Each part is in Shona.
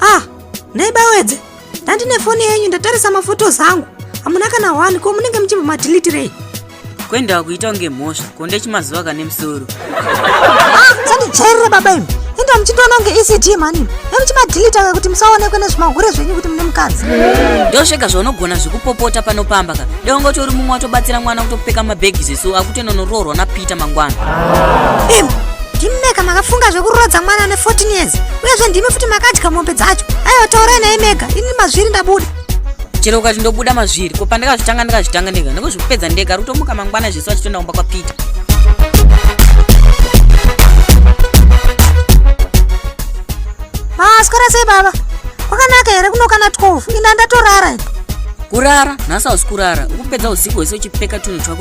ah nhai bawedze ndandine foni yenyu ndatarisa mafotos angu hamuna kana wani ko munenge muchibva madilitirei kuendawa kuita kunge mhosva konde chimazuva kane musoro ah, sandijairira baba imi enda muchindiona kunge ecd mani nemuchimadhilita ka kuti musaonekwe nezvimahure zvenyu kuti mune mukadzi ndosvega zvaunogona zvekupopota panopamba ka deonga kuti uri mumwe watobatsira mwana kutopfeka mabhegi zvesu anonoroorwa napeter mangwana Im, ndimi mega makafunga zvekuroodza mwana ane 14 years uyezve ndimi futi makadya mombe dzacho aiwa taurai naye mega ini mazviri ndabuda chero ukati ndobuda mazviri ko pandakazvitanga ndakazvitanga ndega ndokuzvikupedza ndega rutomuka mangwana zvisu achitoenda kumba kwapeter maaswera sei baba kwakanaka here kunokana 12 ini andatorara ini kurara nhasi hausi kurara ukupedza usiku hwese uchipfeka tunhu twako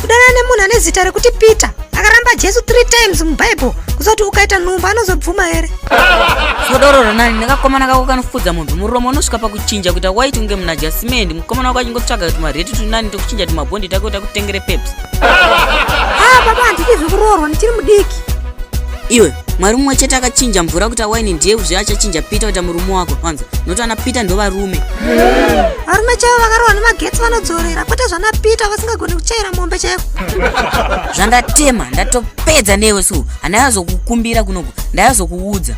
kudanana nemunhu ane zita rekuti peter akaramba jesu three times mubhaibheri kuzoti ukaita nhumbu anozobvuma here sodoro ronani nekakomana kako kanofudza munhu muromo unosvika pakuchinja kuita white kunge muna jasimendi mukomana wako achingotsvaga kuti mareti tunani tokuchinja tumabhondi take kuti akutengere peps ha ah, baba handiti zvekuroorwa ndichiri mudiki iwe mwari mumwe chete akachinja mvura kuita waini ndiye zve achachinja peter kuita murume wako wanza nokuti ana peter ndovarume varume chaivo vakarohwa nemagetsi vanodzorera kwete zvana peter vasingagoni kuchaira mombe chaiko zvandatema ndatopedza newe so handayazokukumbira kunoku ndayazokuudza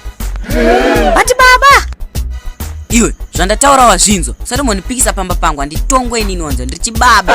vati baba iwe zvandataura wazvinzwa usati monipikisa pamba pangu handitongwe inini wanzwa ndiri chibaba